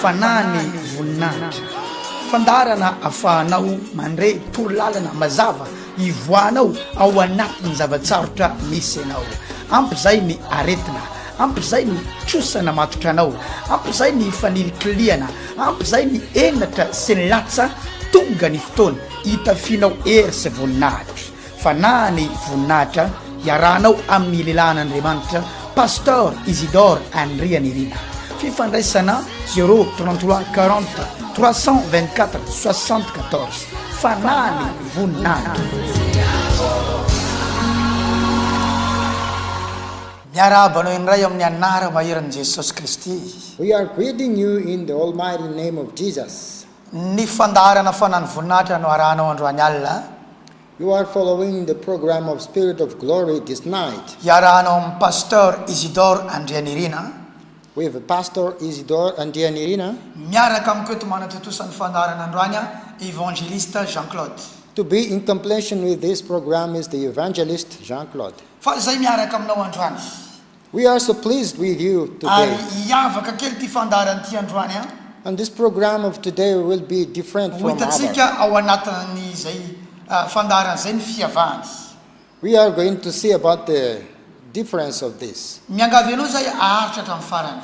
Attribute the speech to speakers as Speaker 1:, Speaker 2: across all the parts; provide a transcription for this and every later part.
Speaker 1: Fanahy ny voninahitra. Fandaharana afahanao mandre torolalana mazava ivoahanao ao anatin'ny zava-tsarotra misy anao. Ampy izay ny aretina, ampy izay ny trosa namatotra anao, ampy izay ny fanilikilihana, ampy izay ny henatra sy ny latsa, tonga ny fotoana hitafianao hery sy voninahitra. Fanahy ny voninahitra iarahanao amin'ny lehilahin'Andriamanitra Pasteur Isidore Andrianirina. Fifandraisana 0 33 40 324 74. Fanahy ny voninahitra. Miarahaba anao indray amin'ny anara maherin'i Jesosy Kristy. We are greeting
Speaker 2: you in the almighty name of Jesus. Ny
Speaker 1: fandaharana Fanan'ny Voninahitra no arahanao androany alina. You are
Speaker 2: following the program of Spirit of Glory this night. Iarahanao amin'i
Speaker 1: Pasteur Isidore Andrianirina. With
Speaker 2: Pastor Isidore Andrianirina. Miaraka amiko
Speaker 1: eto manatontosa ny fandaharana androany Evangeliste Jean Claude. To be in
Speaker 2: completion with this program is the Evangeliste Jean Claude. Fa izay miaraka
Speaker 1: aminao androany. We are so
Speaker 2: pleased with you today. Ary hiavaka kely
Speaker 1: ity fandaharana ity androany an! And this program
Speaker 2: of today will be different from other. Ho hitantsika ao
Speaker 1: anatin'izay fandaharana izay ny fiavahany. We are
Speaker 2: going to see about the difference of this. Miangavy anao izahay
Speaker 1: haharitra hatramin'ny farany.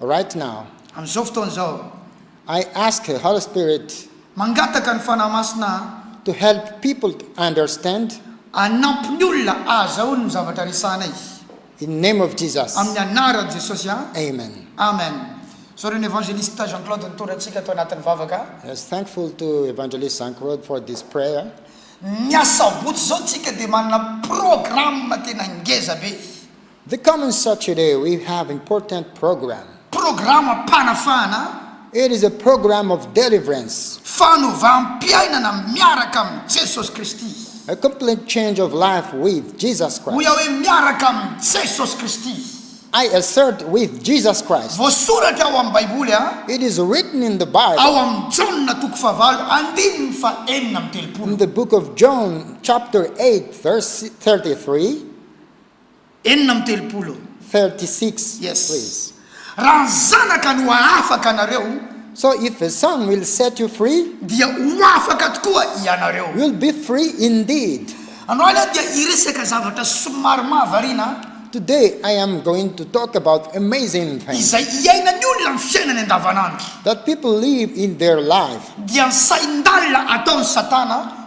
Speaker 1: Right
Speaker 2: now. Amin'izao fotoana izao.
Speaker 1: I ask
Speaker 2: the Holy Spirit. Mangataka ny Fanahy
Speaker 1: Masina aho. To help people
Speaker 2: to understand. Hanampy
Speaker 1: ny olona hahazahoany ny zavatra resahanay. In the name
Speaker 2: of Jesus. Amin'ny anaran'i Jesosy
Speaker 1: an. Amen. Amen. Zao re ny Evangeliste Jean Claude nitondra antsika tao anatin'ny vavaka. Yes, thankful to
Speaker 2: Evangeliste Jean Claude for this prayer. Ny
Speaker 1: asabotsy izao tsika dia manana programme tena ngeza be. The common
Speaker 2: Saturday we have important program. Programam-panafahana.
Speaker 1: It is a
Speaker 2: program of deliverance. Fanovàm-piainana
Speaker 1: miaraka amin'i Jesosy Kristy. A complete
Speaker 2: change of life with Jesus Christ. Hoy aho hoe miaraka
Speaker 1: amin'i Jesosy Kristy. I assert
Speaker 2: with Jesus Christ. Voasoratra ao amin'ny
Speaker 1: Baiboly a. It is written in the
Speaker 2: Bible. Ao amin'i Jaona
Speaker 1: toko fahavalo andininy fahenina amby telopolo. In the book of
Speaker 2: John chapter eight verse thirty three.
Speaker 1: enina amby telopolo. Thirty six,
Speaker 2: Yes. please.
Speaker 1: Raha
Speaker 2: ny
Speaker 1: Zanaka no hahafaka anareo. So if the
Speaker 2: Son will set you free. Dia ho afaka
Speaker 1: tokoa ianareo. You'll be free
Speaker 2: indeed. Androany aho dia
Speaker 1: hiresaka zavatra somary mahavariana. Today I am
Speaker 2: going to talk about amazing things. Izay iainan'ny olona
Speaker 1: amin'ny fiainany andavanandro. That people live
Speaker 2: in their life. Dia ny sain-dalina
Speaker 1: ataon'i Satana.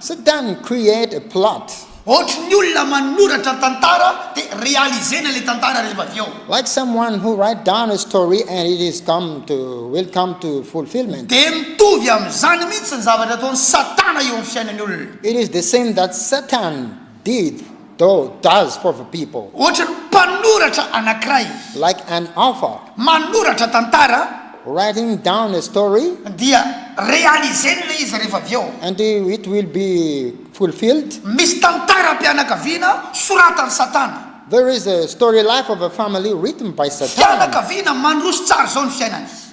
Speaker 1: Sit down and
Speaker 2: create a plot. Ohatry ny olona
Speaker 1: manoratra tantara de realiser-na ilay tantara rehefa avy eo. Like someone who
Speaker 2: write down a story and it is come to will come to fulfilment. Dia mitovy
Speaker 1: amin'izany mihitsy ny zavatra ataon'i Satana eo amin'ny fiainan'ny olona. It is the same that
Speaker 2: Satan Did, do, does for the people. Ohatran'ny mpanoratra
Speaker 1: anankiray. Like an
Speaker 2: author. Manoratra
Speaker 1: tantara. Writing down
Speaker 2: a story. Dia
Speaker 1: realiser-ny ilay izy rehefa avy eo. And it will
Speaker 2: be fulfilled. Misy
Speaker 1: tantaram-pianakaviana soratan'i Satana. There is a story
Speaker 2: life of a family written by Satana. Fianakaviana mandroso
Speaker 1: tsara izao ny fiainany.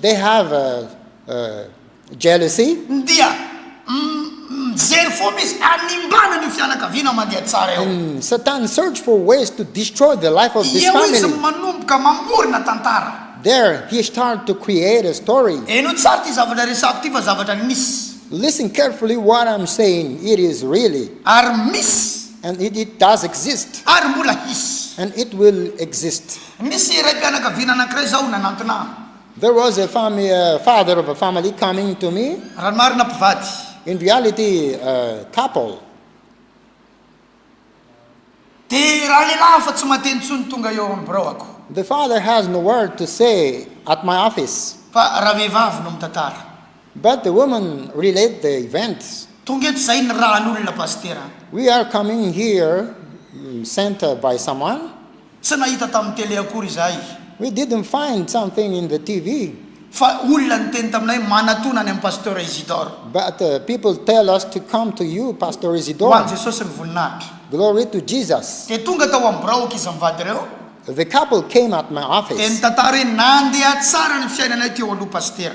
Speaker 1: They have jealousy.
Speaker 2: Dia
Speaker 1: mijery fomba izy hanimbana an'io fianakaviana mandeha tsara io. Satan search
Speaker 2: for ways to destroy the life of this family. Eo izy manomboka mamorona
Speaker 1: tantara. There he start
Speaker 2: to create a story. Heno tsara ity zavatra
Speaker 1: resahako ity fa zavatra nisy. Listen carefully
Speaker 2: what I'm saying, it is really. Ary misy.
Speaker 1: And it does
Speaker 2: exist. Ary mbola hisy.
Speaker 1: And it will
Speaker 2: exist. Misy raim-pianakaviana
Speaker 1: anankiray izao nanantona ahy. There was a
Speaker 2: fami a father of a family coming to me. Raha ny marina, mpivady.
Speaker 1: In reality,
Speaker 2: a couple.
Speaker 1: Dia ralehilahy hafa tsy mahate intsony tonga eo amin'ny biraoako. The father has
Speaker 2: no word to say at my office. Fa ravehivavy
Speaker 1: no mitantara. But the woman
Speaker 2: relate the events. Tonga eto izahay
Speaker 1: nirahan'olona, Pasitera. We are coming
Speaker 2: here sent by someone. Tsy nahita
Speaker 1: tamin'ny tele akory izahay. We didn't find
Speaker 2: something in the TV. Fa olona
Speaker 1: niteny taminay manatona any amin'i Pasteur Isidore. But people
Speaker 2: tell us to come to you Pasteur Ho an'i Isidore.
Speaker 1: Jesosy ny
Speaker 2: voninahitra.
Speaker 1: Glory to Jesus.
Speaker 2: Dia tonga tao amin'ny biraoko
Speaker 1: izy mivady ireo. The couple came
Speaker 2: at my Dia office. nitantara
Speaker 1: hoe
Speaker 2: nandeha
Speaker 1: tsara ny fiainanay teo aloha Pasitera.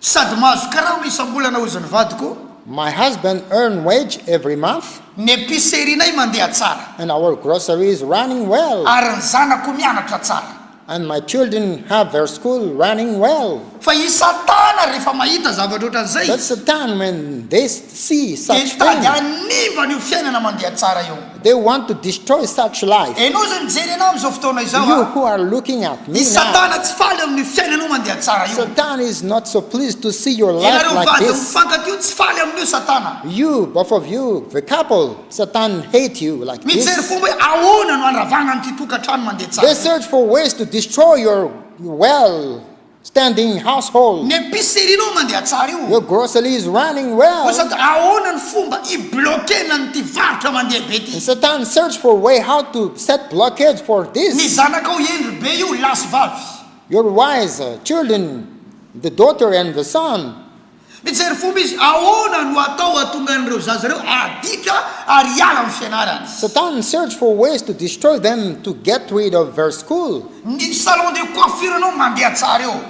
Speaker 1: Sady mahazo karaory isam-bolana hozy ny vadiko. My husband
Speaker 2: earn wage every month. Ny epicerie-nay
Speaker 1: mandeha tsara. And our grocery
Speaker 2: is running well. Ary ny zanako
Speaker 1: mianatra tsara. And my children
Speaker 2: have their school running well. Fa i Satana
Speaker 1: rehefa mahita zavatra ohatran'izay izy. But Satan when
Speaker 2: they see such things. Dia nitady
Speaker 1: hanimba an'io
Speaker 2: fiainana
Speaker 1: mandeha tsara io. They want to destroy
Speaker 2: such life. Ianao izay mijery anao amin'izao
Speaker 1: fotoana izao a. You who are looking at
Speaker 2: me now. I Satana tsy faly
Speaker 1: eo
Speaker 2: amin'io
Speaker 1: fiainanao mandeha tsara io. Satan is not so
Speaker 2: pleased to see your life like this. Ianareo vady mifankatia
Speaker 1: tsy faly
Speaker 2: amin'io
Speaker 1: Satana. You, both of you,
Speaker 2: the couple, Satan hate you like this. Mijery fomba hoe
Speaker 1: ahoana
Speaker 2: no
Speaker 1: andravagna an'ity tokantrano mandeha tsara ity. They search for ways to
Speaker 2: destroy your well. Standing household. Ny epicerie-nao mandeha
Speaker 1: tsara io. Your grocery is running
Speaker 2: well. Koa sady ahoana ny
Speaker 1: fomba hibloquena an'ity varotra mandeha be ity? Satan search for
Speaker 2: way how to set blockage for this. Ny zanakao
Speaker 1: hendry
Speaker 2: be io
Speaker 1: lahy sy vavy. Your wise
Speaker 2: children the daughter and the son. Mijery fomba
Speaker 1: izy ahoana no atao hahatonga an'ireo zaza ireo adika ary hiala amin'ny fianarany. Satan search for
Speaker 2: ways to destroy them to get rid of their school. Ny salon de
Speaker 1: coiffure anao mandeha tsara eo.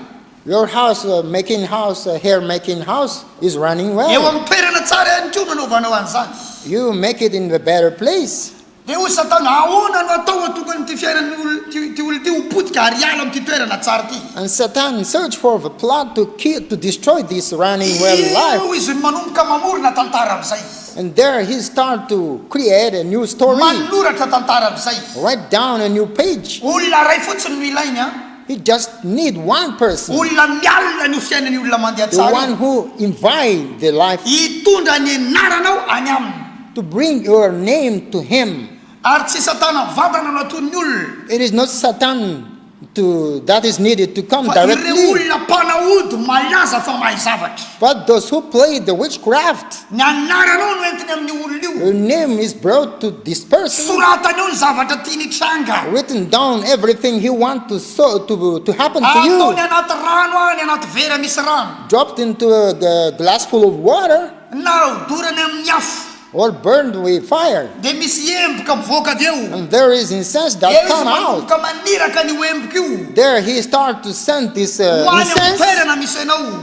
Speaker 1: Your house
Speaker 2: making house, hair making house, is running well. Eo amin'ny toerana
Speaker 1: tsara
Speaker 2: ihany
Speaker 1: koa no anaovanao an'izany. You make it in the
Speaker 2: better place. Dia hoy Satana,
Speaker 1: Ahoana no atao ho atokan'ity fiainan'ity olona ity ho potika ary hiala amin'ity toerana tsara ity? And Satan searched
Speaker 2: for the plot to kill, to destroy this running well Io life. izy no manomboka
Speaker 1: mamorona tantara amin'izay izy. And there he start
Speaker 2: to create a new story, Manoratra tantara
Speaker 1: amin'izay izy. write down a new
Speaker 2: page. Olona iray fotsiny no
Speaker 1: ilainy an! He just need
Speaker 2: one person. Olona mialona ny ho
Speaker 1: fiainan'ny olona mandeha The tsara one io. who
Speaker 2: invite the life. Hitondra ny
Speaker 1: anaranao any aminy. To bring your
Speaker 2: name to him. Ary tsy Satana
Speaker 1: mivantana no aton'ny olona. It is not Satan
Speaker 2: to that is needed to come Fa ireo directly. olona
Speaker 1: mpanao
Speaker 2: ody
Speaker 1: malaza fa mahay zavatra. But those who play
Speaker 2: the witchcraft. Ny anaranao
Speaker 1: no entiny amin'io olona io. Her name is brought
Speaker 2: to this person. Soratany eo ny zavatra
Speaker 1: tiany hitranga. Written down
Speaker 2: everything he want to so to to happen to you. Ataony anaty rano any
Speaker 1: anaty vera misy rano. Dropped into a
Speaker 2: glass full of water. Na hodorany
Speaker 1: amin'ny afo. Or burned with
Speaker 2: fire. Dia misy emboka
Speaker 1: mivoaka avy eo. And there is incense
Speaker 2: that come out. Eo izy manomboka
Speaker 1: maniraka
Speaker 2: an'io
Speaker 1: emboka io. There he start to
Speaker 2: send this incense. Ho any amin'ny toerana
Speaker 1: misy anao.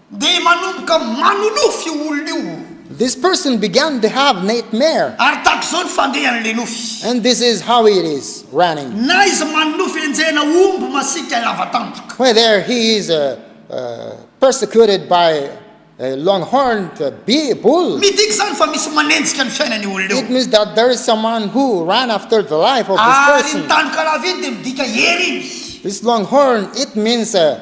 Speaker 2: Dia manomboka
Speaker 1: manonofy io olona io. This person
Speaker 2: began to have nightmare. Ary tahaka izao ny
Speaker 1: fandehan'ilay nofy. And this is how it
Speaker 2: is running. Na izy manonofy
Speaker 1: enjehina omby masiaka lava tandroka. Whether he is uh,
Speaker 2: uh, persecuted by a long-horned bee, bull. Midika izany fa misy
Speaker 1: manenjika ny fiainana io olona io. It means that there is someone
Speaker 2: who
Speaker 1: ran after
Speaker 2: the
Speaker 1: life
Speaker 2: of this Ary ny
Speaker 1: person. tandroka
Speaker 2: lava iny
Speaker 1: dia
Speaker 2: midika
Speaker 1: hery
Speaker 2: iny. This long horn, it means uh,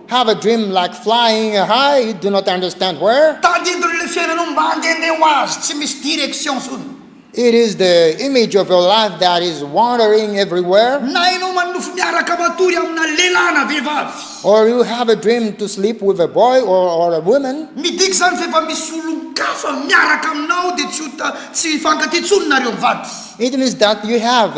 Speaker 2: Have a dream like flying high you do not understand where. Tadidio le fiainanao
Speaker 1: mandendeha ho azy tsy misy direction intsony. It is the
Speaker 2: image of your life that is wandering everywhere. Na ianao manonofy
Speaker 1: miaraka matory amina lehilahy na vehivavy. Or you have a dream
Speaker 2: to sleep with a boy or or a woman. Midika izany fa efa
Speaker 1: misy olon-kafa miaraka aminao dia tsy ho ta tsy hifankatia intsony nareo mivady. It means that you
Speaker 2: have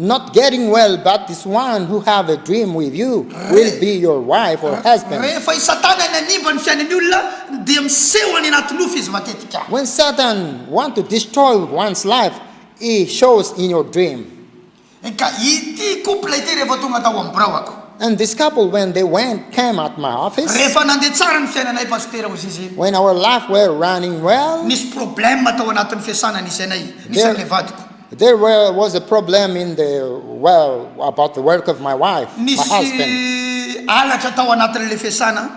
Speaker 2: Not getting well but this one who have a dream with you will be your wife or husband. Rehefa i Satana
Speaker 1: nanimba ny fiainan'ny olona dia miseho any anaty nofy izy matetika. When Satan
Speaker 2: want to destroy one's life he shows in your dream. Ka
Speaker 1: ity couple ity rehefa tonga tao amin'ny biraoko. And this couple when
Speaker 2: they went came at my office. Rehefa nandeha tsara ny
Speaker 1: fiainanay Pasitera hoy izy. When our life were
Speaker 2: running well. Nisy problème
Speaker 1: tao anatin'ny fiasana nisy anay nisy an'ilay vadiko.
Speaker 2: Nisy halatra
Speaker 1: tao anatin'ilay fiasana
Speaker 2: aho,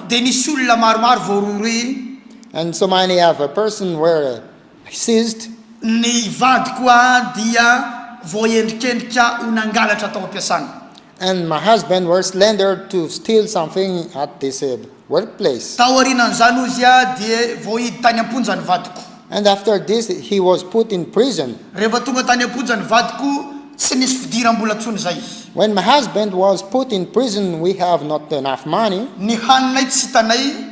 Speaker 2: dia nisy olona
Speaker 1: maromaro
Speaker 2: voarohirohy, ny
Speaker 1: vadiko dia voaendrikendrika ho nangalatra tao am-piasana. and my husband
Speaker 2: were slender to steal something at the said workplace. Taorianan'izany
Speaker 1: hoy izy dia voahidy tany am-ponja ny vadiko. And after this
Speaker 2: he was put in prison. Rehefa tonga tany am-ponja
Speaker 1: ny vadiko, tsy nisy fidiram-bola intsony izay. When my husband
Speaker 2: was put in prison we have not enough money. Ny haninay tsy
Speaker 1: hitanay.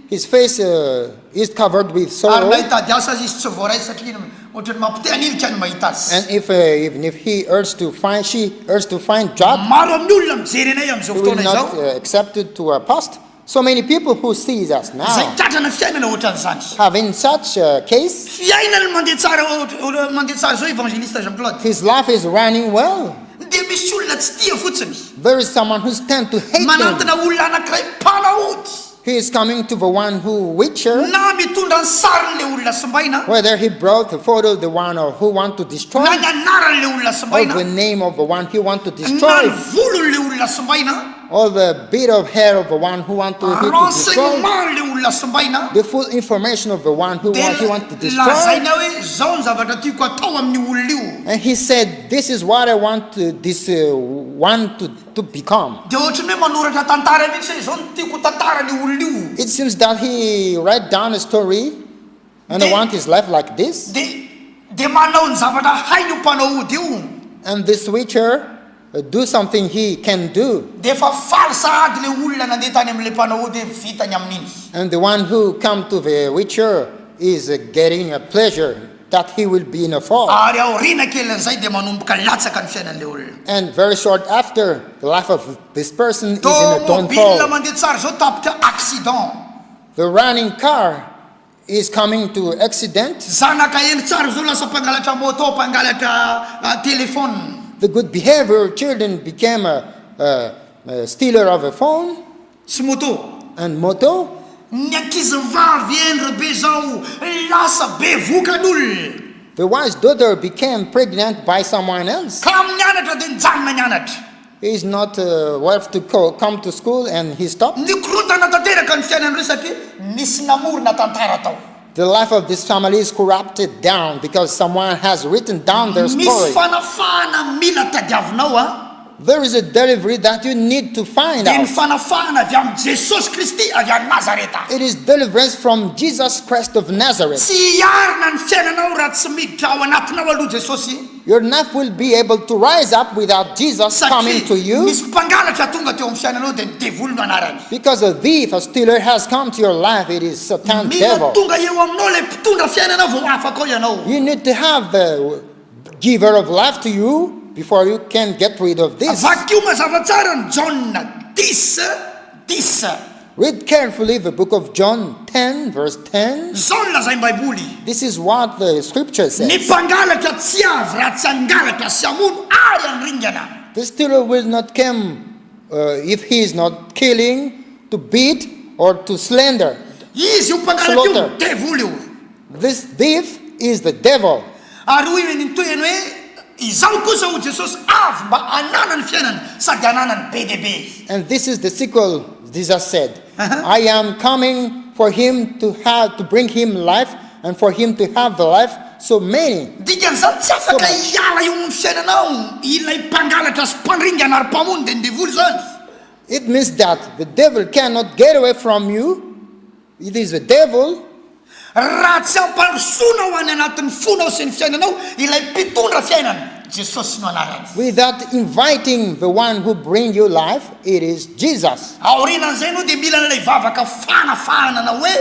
Speaker 1: His face
Speaker 2: is covered with sorrow. Ary na hitady
Speaker 1: asa
Speaker 2: aza izy tsy
Speaker 1: voaray satria iny ohatran'ny mampite hanilika ny mahita azy. And if even if
Speaker 2: he urged to find she urged to find job. Maro amin'ny olona mijery anay amin'izao
Speaker 1: fotoana izao. He will not
Speaker 2: accepted to a
Speaker 1: post.
Speaker 2: So many people who sees us now. Izay tratrana fiainana ohatran'izany.
Speaker 1: Have in such a
Speaker 2: case. Fiainany mandeha tsara mandeha tsara
Speaker 1: izao evangeliste Jean Claude. His life is running
Speaker 2: well. Dia misy olona
Speaker 1: tsy tia fotsiny. There is someone who's
Speaker 2: tend to hate him. Manantona olona anankiray
Speaker 1: mpanao ody. He is coming
Speaker 2: to the one who witcher. Na mitondra ny
Speaker 1: sarin'ilay olona simbaina. Whether he brought the
Speaker 2: photo of the one who want to destroy. Na ny anaran'ilay
Speaker 1: olona simbaina. Or the name of
Speaker 2: the one he
Speaker 1: want
Speaker 2: to destroy. Na ny
Speaker 1: volon'ilay
Speaker 2: olona
Speaker 1: simbaina. Or the bit
Speaker 2: of hair of the one who want to destroy. Renseignement'ilay olona
Speaker 1: simbaina. The full information
Speaker 2: of the one who want, he want to destroy. Lazaina hoe zao
Speaker 1: ny zavatra tiako atao amin'ny olona io. And he said this
Speaker 2: is what I want to, this uh, one to to become. Dia ohatran'ny hoe manoratra
Speaker 1: tantara mihitsy hoe izao no tiako ho tantaran'io olona io. It seems that he
Speaker 2: write down a story and I want his life like this. Dia dia manao
Speaker 1: ny zavatra hainy io mpanao ody io. And this writer
Speaker 2: do something he can do. Dia efa faly
Speaker 1: sahady ilay olona nandeha tany amin'ilay mpanao ody hoe vita ny amin'iny. And
Speaker 2: the one who come
Speaker 1: to
Speaker 2: the writer is getting a pleasure that he will be in a fall. Ary aoriana kelin'izay
Speaker 1: dia manomboka latsaka ny fiainan'ilay olona. And very short
Speaker 2: after, the life of this person is in a downfall. Tômôbila mandeha
Speaker 1: tsara izao
Speaker 2: tapitra
Speaker 1: accident. The running
Speaker 2: car is coming to accident. Zanaka hendry tsara
Speaker 1: izao lasa mpangalatra môtô, mpangalatra telephone. The good behavior
Speaker 2: children became a stealer of a phone. Sy moto.
Speaker 1: And moto.
Speaker 2: Ny
Speaker 1: ankizivavy endre be zao lasa bevoka n'olona. The wise
Speaker 2: daughter became pregnant by someone else. Ka amin'ny anatra dia
Speaker 1: nijanona ny anatra. He is not
Speaker 2: worth to come to school and he stopped. Nikorontana tanteraka
Speaker 1: ny fiainan'ireo satria nisy namorona tantara tao. The life of this
Speaker 2: family is corrupted down because someone has written down their story. Misy fanafahana mila
Speaker 1: tadiavinao a. There is a
Speaker 2: delivery that you need to find out. Dia ny fanafahana
Speaker 1: avy amin'i Jesosy Kristy avy any Nazareta. It is deliverance
Speaker 2: from Jesus Christ of Nazareth. Tsy hiarina ny
Speaker 1: fiainanao raha tsy miditra ao anatinao aloha Jesosy. Your knife will be
Speaker 2: able to rise up without Jesus coming to you. Satria nisy mpangalatra tonga
Speaker 1: teo amin'ny fiainanao dia ny devoly no anarany. Because a thief, a
Speaker 2: stealer has come to your life, it is Satan Devil. Mila tonga eo
Speaker 1: aminao
Speaker 2: ilay
Speaker 1: mpitondra fiainana vao afaka ao ianao. You need to have the
Speaker 2: giver of life to you before you can get rid of this. Vakio mazava tsara
Speaker 1: ny Jaona dix. Disa. Read
Speaker 2: carefully the book of John ten verse ten. Izao no lazain'ny
Speaker 1: Baiboly. This is what the
Speaker 2: scripture says. Ny mpangalatra tsy avy raha
Speaker 1: tsy hangalatra
Speaker 2: sy hamono ary
Speaker 1: handringana. The stealer will
Speaker 2: not come if he is not killing, to beat or to slander. Izy io
Speaker 1: mpangalatra io dia devoly io. This thief
Speaker 2: is the devil. Ary hoy ny
Speaker 1: niteny hoe, Izaho kosa, hoy Jesosy, avy mba hanana ny fiainana sady hananany be dia be. And this is the sequel,
Speaker 2: Jesus said, I am coming for him to have, to bring him life, and for him to have the life so many. Dikan'izany, tsy afaka
Speaker 1: hiala eo amin'ny fiainanao ilay mpangalatra sy mpandringana ary mpamono dia ny devoly izany. It means
Speaker 2: that the devil cannot get away from you. It is the devil, raha
Speaker 1: tsy ampandrosoana ao any anatin'ny fonao sy ny fiainanao ilay mpitondra fiainana, Jesosy no anarany. Without inviting
Speaker 2: the one who bring your life, it is Jesus. Aorianan'izay ianao dia
Speaker 1: mila an'ilay vavaka fanafahana na hoe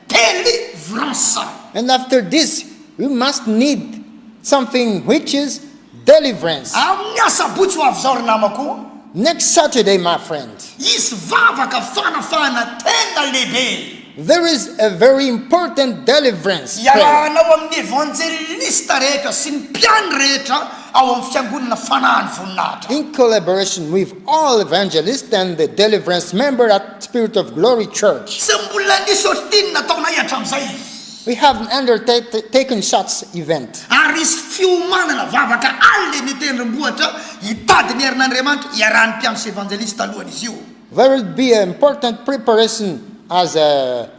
Speaker 1: delivrance. And after
Speaker 2: this you must need something which is Deliverance. Amin'ny asabotsy
Speaker 1: ho avy izao ry namako o. Next Saturday
Speaker 2: my friend. Hisy vavaka
Speaker 1: fanafahana tena lehibe. There is a
Speaker 2: very important deliverance prayer. Iarahanao amin'ny
Speaker 1: evanjelista rehetra sy ny mpihaino rehetra ao amin'ny Fiangonana Fanahin'ny Voninahitra. In collaboration
Speaker 2: with all evangelists and the deliverance member at Spirit of Glory Church. Tsy mbola nisy
Speaker 1: ohatry ity ny nataonay hatramin'izay. We have an
Speaker 2: undertaken such event. Ary nisy
Speaker 1: fiomanana vavaka alina eny an-tendrombohitra hitady ny herin'Andriamanitra iarahan'ny mpiandry sy evanjelisy talohan'izy io. There will be an
Speaker 2: important preparation as a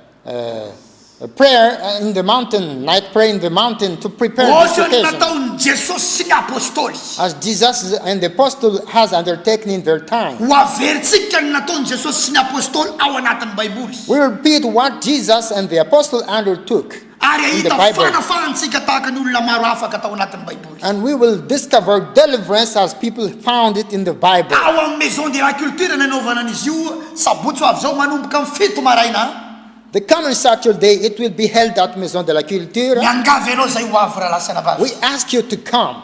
Speaker 2: prayer in the mountain, night prayer in the mountain to prepare this occasion. Ohatran'ny nataon'i
Speaker 1: Jesosy
Speaker 2: sy
Speaker 1: ny Apôstôly. As Jesus
Speaker 2: and the Apostle has undertaken in their time. Ho averintsika
Speaker 1: ny nataon'i Jesosy sy ny Apôstôly ao anatin'ny Baiboly. We repeat what
Speaker 2: Jesus and the Apostle Andrew took in the Bible. Ary hahita
Speaker 1: fanafahantsika
Speaker 2: tahaka ny
Speaker 1: olona maro afaka tao anatin'ny Baiboly. And we will discover
Speaker 2: deliverance as people found it in the Bible. Tao amin'ny Maison de la
Speaker 1: Culture nanaovana an'izy io, sabotsy ho avy izao, manomboka amin'ny fito maraina. The coming
Speaker 2: Saturday it will be held at Maison de la Culture. Miangavy anao izay ho
Speaker 1: avy rahalahasy anabavy. We ask you to come.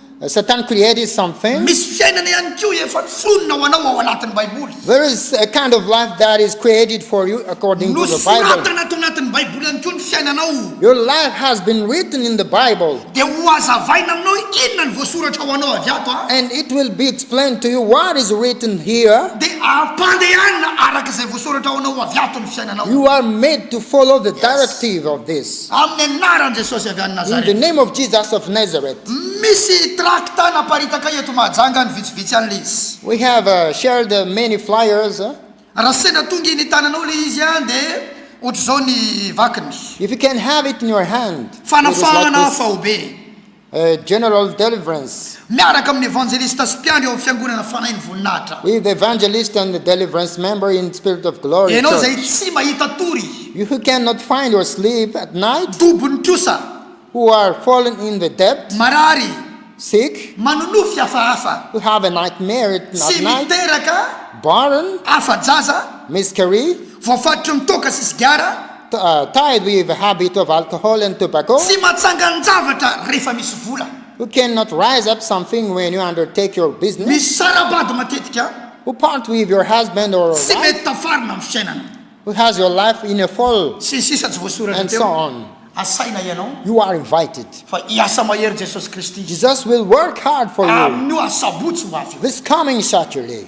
Speaker 2: Satan created something. Misy fiainana ihany
Speaker 1: koa efa fonona ho anao ao anatin'ny Baiboly. There is a kind
Speaker 2: of life that is created for you according to the Bible. Nosoratana ato anatin'ny Baiboly
Speaker 1: ihany koa ny fiainanao. Your life has
Speaker 2: been written in the Bible. Dia hohazavaina
Speaker 1: aminao inona no voasoratra ho anao avy ato. And it will be explained
Speaker 2: to you what is written here. Dia ampandehanina
Speaker 1: araka izay voasoratra ho anao avy ato ny fiainanao. You are made to
Speaker 2: follow the directive of this. Amin'ny anaran'i Jesosy
Speaker 1: avy any Nazareth. In the name of Jesus
Speaker 2: of Nazareth. Misy
Speaker 1: trakta naparitaka eto Mahajanga any vitsivitsy any le izy. We have shared
Speaker 2: many flyers. Raha sendra
Speaker 1: tonga eny tananao le izy an de otrzao ny vakiny.
Speaker 2: If you can have
Speaker 1: it in
Speaker 2: your
Speaker 1: hand,
Speaker 2: it is like this. Fanafahana faobe. A General Deliverance. Miaraka amin'ny Evanjelista
Speaker 1: sy mpiandry ao amin'ny Fiangonana Fanahy ny Voninahitra. With the Evangelist
Speaker 2: and the Deliverance member in Spirit of Glory Ianao izay Church. tsy mahita tory.
Speaker 1: You who cannot find
Speaker 2: your sleep at night. Dobony trosa.
Speaker 1: Who are
Speaker 2: fallen in the debt. Marary.
Speaker 1: Sick.
Speaker 2: Manonofy hafahafa.
Speaker 1: Who have a nightmare
Speaker 2: at night. Tsy miteraka. Barren. Afa-jaza.
Speaker 1: Miscarry.
Speaker 2: Voafatotry ny toaka
Speaker 1: sy sigara. Thai with
Speaker 2: habit of alcohol and tobacco. Tsy matsangan-javatra
Speaker 1: rehefa misy vola. Who cannot
Speaker 2: rise up something when you undertake your business. Misy sara-bady
Speaker 1: matetika. Who part with your
Speaker 2: husband or wife. Tsy mety tafarina
Speaker 1: amin'ny
Speaker 2: fiainana.
Speaker 1: Who has your life
Speaker 2: in a fall. Sy ny sisa Tsy voasoratra teo.
Speaker 1: And so on.
Speaker 2: Asaina ianao.
Speaker 1: You are invited.
Speaker 2: Fa hiasa mahery
Speaker 1: Jesosy Kristy. Jesus will work
Speaker 2: hard for you. Amin'io asabotsy
Speaker 1: ho avy io. This coming Saturday.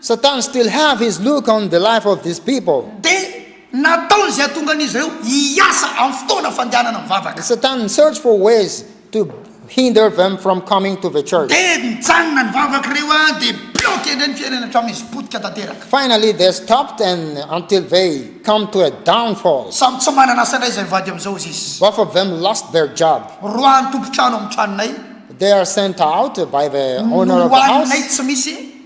Speaker 1: Satan still
Speaker 2: have his look on the life of these people. Dia
Speaker 1: nataony izay hahatongan'izy ireo hiasa amin'ny fotoana fandehanana mivavaka. Satan search for
Speaker 2: ways to hinder them from coming to the church. Dia nijanona ny
Speaker 1: vavak'ireo an dia bloqué indray ny fiainany hatramin'izy potika tanteraka. Finally they stopped
Speaker 2: and until they come to a downfall. Samy tsy manana asa
Speaker 1: indray izay mivady amin'izao izy izy. Both of them lost their
Speaker 2: job. Roahan'ny tompon-trano
Speaker 1: amin'ny tranonay. They are sent
Speaker 2: out by the owner of the house. Nohaninay tsy misy.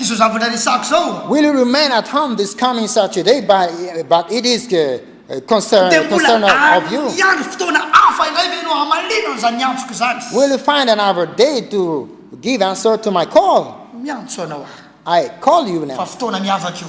Speaker 1: Izao zavatra resahako izao. Will you remain at home
Speaker 2: this coming Saturday but but it is the uh, concern Dia mbola concern
Speaker 1: of, of you? hiandry fotoana
Speaker 2: hafa
Speaker 1: indray ve ianao hamaliana an'izany antsoko izany? Will you find another
Speaker 2: day to give answer to my call? Miantso
Speaker 1: anao aho I call you fa
Speaker 2: now. fotoana
Speaker 1: miavaka
Speaker 2: io.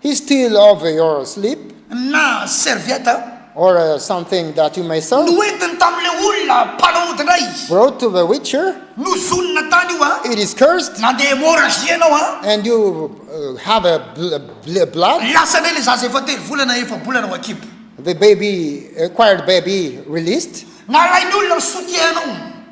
Speaker 1: He steal
Speaker 2: over your sleep. Na serviette
Speaker 1: a. Or a something
Speaker 2: that you may sew. Noentiny tamin'ilay
Speaker 1: olona mpanao ody indray izy. Brought to the witcher.
Speaker 2: Nozonina tany
Speaker 1: io a. It is cursed. Nandeha
Speaker 2: hemorragie
Speaker 1: ianao a. And you
Speaker 2: have a blood. Lasa indray ilay zaza
Speaker 1: efa telo volana efa-bolana ao an-kibo. The baby,
Speaker 2: acquired baby, released. Nalain'ny olona ny
Speaker 1: soutien-nao.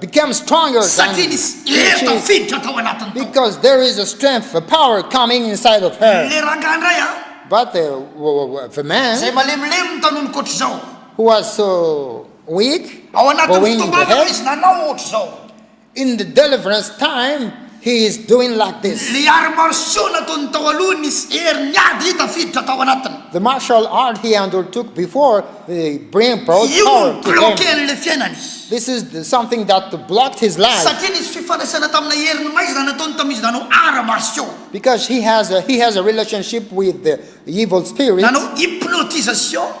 Speaker 2: became stronger than Satria nisy hery
Speaker 1: tafiditra tao anatiny tao. Because there is a strength,
Speaker 2: a power coming inside of her. Ilay rangahy indray an.
Speaker 1: But the,
Speaker 2: the man. Izay malemilemy ny tanony
Speaker 1: koatr'izao. Who was so
Speaker 2: weak. Ao anatin'ny
Speaker 1: fotoam-bavaka izy
Speaker 2: nanao ohatr'izao.
Speaker 1: In the
Speaker 2: deliverance time. He is doing like this. Ilay arts martiaux
Speaker 1: nataony tao aloha nisy heriny ady tafiditra tao anatiny. The martial art he
Speaker 2: undertook before bring brought Io no power to him.
Speaker 1: ni-bloquer an'ilay
Speaker 2: fiainany.
Speaker 1: This is the something
Speaker 2: that blocked his life. Satria nisy fifandraisana
Speaker 1: tamina heriny maika izany nataony tamin'izy nanao arts martiaux. Because he has
Speaker 2: a he has a relationship with the evil spirits. Nanao hypnotisation.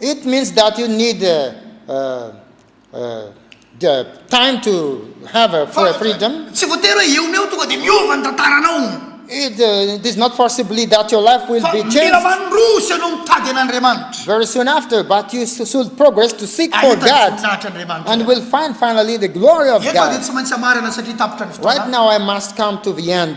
Speaker 1: It means
Speaker 2: that you need uh, uh, uh, the time to have a Fa- fre- freedom. Tsy voatery hoe eo meo
Speaker 1: tonga dia miova ny tantaranao. It, uh, it is
Speaker 2: not forcibly that your life will Fa be mila changed
Speaker 1: mandroso
Speaker 2: ianao mitady
Speaker 1: an'Andriamanitra. very soon after, but
Speaker 2: you s- should progress to seek for Ahita ny God voninahitra
Speaker 1: Andriamanitra. and
Speaker 2: will
Speaker 1: find finally
Speaker 2: the glory of Eto aho dia God. tsy maintsy
Speaker 1: hamarana satria
Speaker 2: tapitra
Speaker 1: ny Right fotoana. now, I must come
Speaker 2: to the end.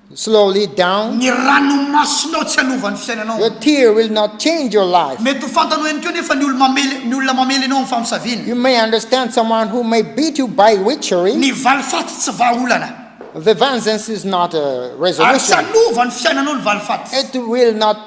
Speaker 2: slowly down. Ny ranomasinao
Speaker 1: tsy hanova ny fiainanao. Your tear will not
Speaker 2: change your life. Mety ho fantanao ihany koa
Speaker 1: anefa ny olo mamely ny olona mamely anao amin'ny famosaviana. You may understand
Speaker 2: someone who may beat you by witchery. Ny valifaty tsy
Speaker 1: vahaolana. The vengeance
Speaker 2: is not a resolution. Ary tsy hanova
Speaker 1: ny fiainanao
Speaker 2: ny
Speaker 1: valifaty. It will not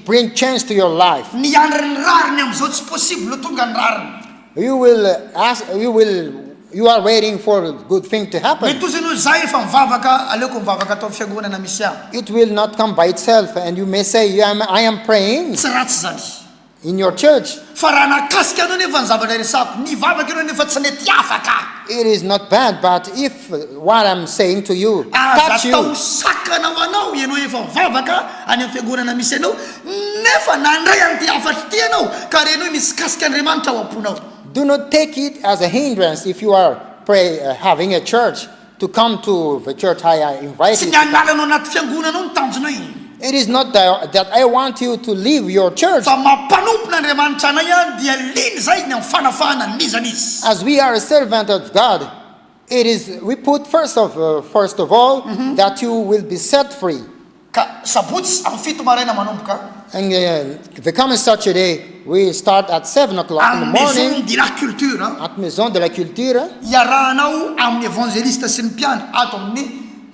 Speaker 2: bring change to your life. Ny hiandry ny rariny
Speaker 1: amin'izao tsy possible ho tonga ny rariny. You will ask, you will, you are waiting
Speaker 2: for good thing to happen. Mety ho izy noho izaho efa
Speaker 1: mivavaka, aleoko mivavaka ato amin'ny fiangonana misy ahy. It will not come by
Speaker 2: itself, and you may say, I am, I am praying. Tsy ratsy izany.
Speaker 1: In your church.
Speaker 2: Fa raha nahakasika
Speaker 1: anao anefa ny zavatra resahako, nivavaka ianao nefa tsy nety afaka. It is not bad,
Speaker 2: but if what I'm saying to you touch you. Aza atao sakana
Speaker 1: ho anao ianao efa mivavaka any amin'ny fiangonana misy anao nefa nandray an'ity hafatra ity ianao ka renoy misikasika Andriamanitra ao am-ponao. Do not take
Speaker 2: it as a hindrance if you are pray having a church to come to the church I invite you to come. Tsy ny hanala anao anaty
Speaker 1: fiangonana ao no tanjona e. It is not
Speaker 2: that I want you to leave your church. Fa mampanompona
Speaker 1: Andriamanitra anay aho dia liana izay ny amin'ny fanafahana an'izany izy. As we are a servant
Speaker 2: of God. It is we put first of first of all that you will be set free. Ka
Speaker 1: sabotsy amin'ny fito maraina manomboka. And uh,
Speaker 2: the coming Saturday we start at 7 o'clock in the Amin'ny morning Maison de la Culture.
Speaker 1: a.
Speaker 2: at
Speaker 1: Maison de la
Speaker 2: Culture Iarahanao
Speaker 1: amin'ny evangelista sy ny mpiandry ato amin'ny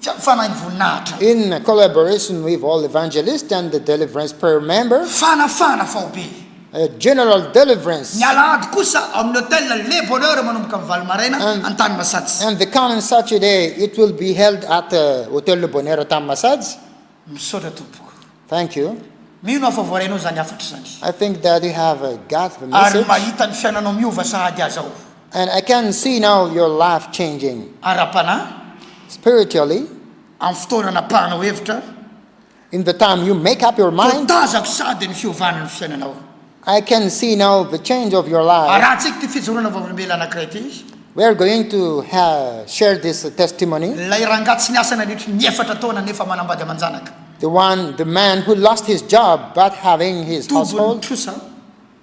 Speaker 1: fia- fanahin'ny voninahitra. in collaboration
Speaker 2: with all evangelists and the deliverance prayer members. Fanafahana faobe.
Speaker 1: A General
Speaker 2: Deliverance. Ny alahady kosa
Speaker 1: ao amin'ny Hotel Le Bonheur manomboka amin'ny valo maraina any tany Masajy. And the coming Saturday
Speaker 2: it will be held at Hotel Le Bonheur tany Masajy. Misaotra
Speaker 1: tompoko. Thank you.
Speaker 2: Mino aho fa voarainao
Speaker 1: izany hafatra izany. I think that you have
Speaker 2: got the message. Ary mahita ny fiananao miova
Speaker 1: sahady aza aho. And I can
Speaker 2: see now your life changing. Ara-panahy.
Speaker 1: Spiritually.
Speaker 2: Amin'ny fotoana
Speaker 1: anapahanao hevitra. In the
Speaker 2: time you make up your mind. Voatazako sady ny
Speaker 1: fiovana ny fiainanao. I can
Speaker 2: see now the change of your life. Arahantsika ity fijoroana
Speaker 1: vavolombelona anankiray ity. We are going to
Speaker 2: share this testimony. Ilay rangahy tsy niasa
Speaker 1: nandritry ny efatra taona nefa manambady aman-janaka. The one,
Speaker 2: the man who lost his job but
Speaker 1: having
Speaker 2: his household. Tobin'ny trosa.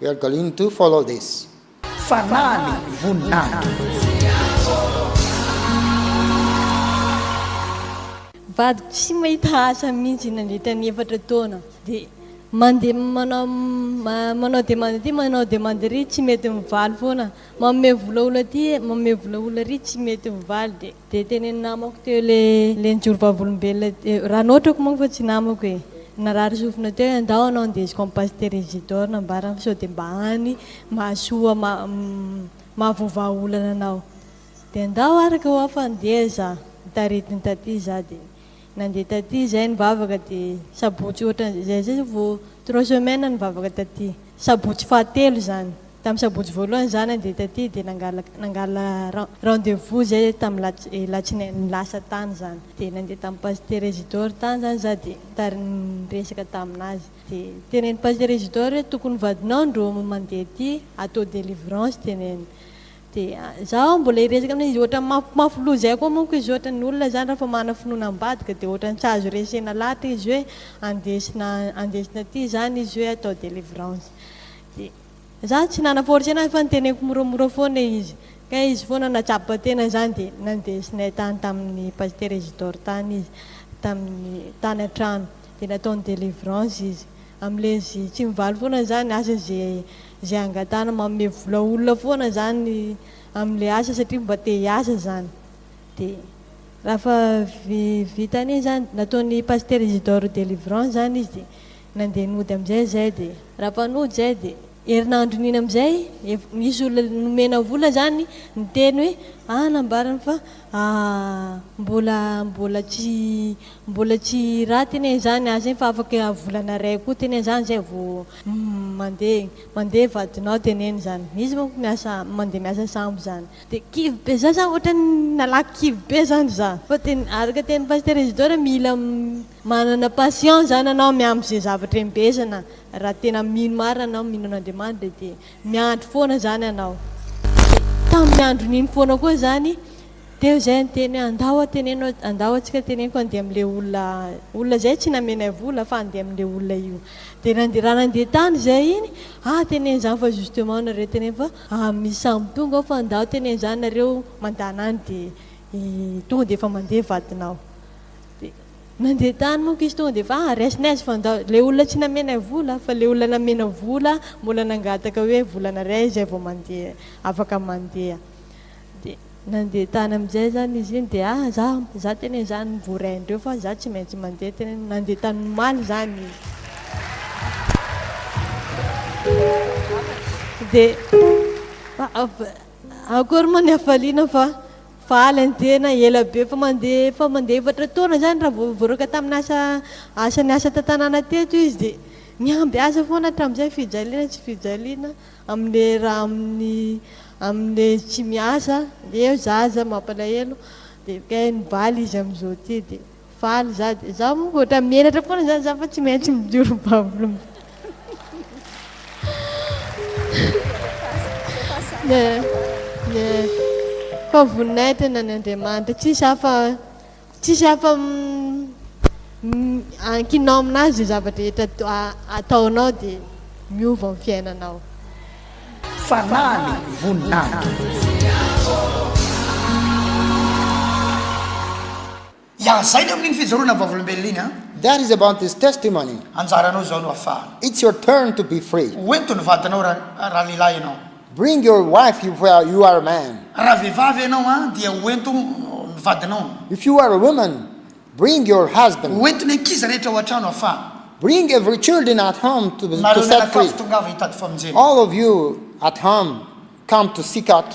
Speaker 1: We are going
Speaker 2: to follow this. Fanahy ny
Speaker 1: voninahitra.
Speaker 3: Vadiko tsy mahita asa mihitsy nandritra ny efatra taona dia mandeha manao manao demande aty manao demande ary tsy mety mivaly foana, manome vola olona aty manome vola olona ary tsy mety mivaly dia Dia teny namako teo le le nijoro vavolombelona teo raha notrako manko fa tsy namako e narary sofina teo hoe ndao anao ndesiko am pasitera Isidore nambarany fa sao dia mba any mahasoa ma mahavoavaha olana anao dia ndao araka hoa fa ndeha za nitarety ny taty za dia Nandeha taty izay nivavaka dia sabotsy ohatran'izay izay izay vao trois semaines nivavaka taty. Sabotsy fahatelo izany. Tamin'ny sabotsy voalohany izaho nandeha taty dia nangalaka nangala rendez vous izay tamin'ny alatsinainy lasa tany izany. Dia nandeha tamin'ny pasitera Isidore tany izany izaho dia nitari niresaka tamin'azy. Dia teneniny pasitera Isidore hoe tokony vadinao ndro mandeha aty atao delivrance teneniny. Dia izaho mbola hiresaka amin'ilay izy ohatran'ny mafy mafy loha izay koa manko izy ohatran'ny ny olona izany rehefa manana finoana ambadika dia ohatran'ny tsy azo resena lahatra izy hoe andesina andesina aty izany izy hoe atao délivrance dia izaho tsy nana forcer an'azy fa niteneniko moramora foana izy ka izy foana nahatsapa tena izany dia nandesinay tany tamin'ny pasitera Isidore tany izy tamin'ny tany an-trano dia nataony délivrance izy amin'ilay izy tsy mivaly foana izany asa izay Izay angatahana manome vola olona foana izany amin'ilay asa satria mba te hiasa izany. Dia rafa vita an'iny izany, nataon'i Pasitera Isidore Delivrant izany izy dia nandeha nody amin'izay izahay dia. Rafa nody izay dia herinandron'iny amin'izay efa nisy olona nomena vola izany niteny hoe ah nambarany fa mbola mbola tsy mbola tsy raty anie izany asa iny fa afaka volana iray koa teny izany izay vao Mandeha igny, mandeha vadinao de neny zany, izy manko miasa mandeha miasa sambo zany, de kivy be za zany ohatrany nalaky kivy be zany za, fa de araka tenin'i Pasitera Isidore mila manana patience zany anao miandry ze zavatra embezana raha tena mino marina anao mino an'Andriamanitra de miandry foana zany anao, tamin'ny andron'iny foana koa zany Teo zay ny teny hoe andao a teneno andao atsika teneniko andeha amle olona olona zay tsy namenay vola fa andeha amle olona io de nandeha raha nandeha tany zay iny a teneno zany fa justement nareo teneno fa amin'ny samy tonga ao fa andao teneno zany nareo mandana any de tonga de efa mandeha vadinao de nandeha tany monko izy tonga de efa a raisinay izy fa andao le olona tsy namenay vola fa le olona namena vola mbola nangataka hoe volanareo izay vao mandeha afaka mandeha dia nandeha tany amin'izay izany izy iny dia ah za za tena izany mivoray andreo fa za tsy maintsy mandeha tena hoe nandeha tany omaly izany izy dia akory moa ny hafaliana fa faly ny tena ela be fa mandeha efa mandeha efatra taona izany raha vao voaroaka tamin'ny asa asa niasa tan-tanàna teto izy dia mihamby azy foana hatramin'izay fijaliana tsy fijaliana Amle raha aminy amle tsy miasa eo zaza mampalahelo de kay mivaly izy amizao ty de faly za de za mo otra menatra fona zany za fa tsy maintsy mijoro babo fa voninahitra ny an'Andriamanitra tsisy hafa Tsisy afa ankinao aminazy zay zava drehetra ataonao dia miova ny fiainanao.
Speaker 1: Fanahiny voninahitra. Yah, zay ny amin'iny fijoroana vavolombelona iny an. That is about his
Speaker 2: testimony. Anjaranao izao no
Speaker 1: afahana. It's your turn to be
Speaker 2: free. Hoento ny vadinao
Speaker 1: raha raha lehilahy ianao. Bring your wife
Speaker 2: if you are a man. Raha vehivavy ianao
Speaker 1: an, dia hoento ny vadinao. If you are a woman,
Speaker 2: bring your husband. Hoento ny ankizy rehetra
Speaker 1: ao an-trano afa. Bring every children
Speaker 2: at home to set free. Nareo mianakavy tongava
Speaker 1: hitady
Speaker 2: famonjena.
Speaker 1: All of you
Speaker 2: at home come to seek out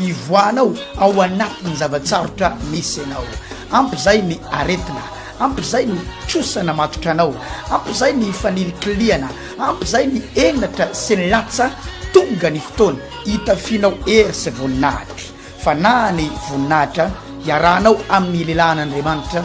Speaker 1: Ivoahanao ao anatin'ny zava-tsarotra misy ianao. Ampy izay ny aretina, ampy izay ny trosa namatotra anao, ampy izay ny fanilikilihana, ampy izay ny henatra sy ny latsa, tonga ny fotoana hitafianao hery sy voninahitra. Fanahy ny voninahitra iarahanao amin'ny lehilahin'Andriamanitra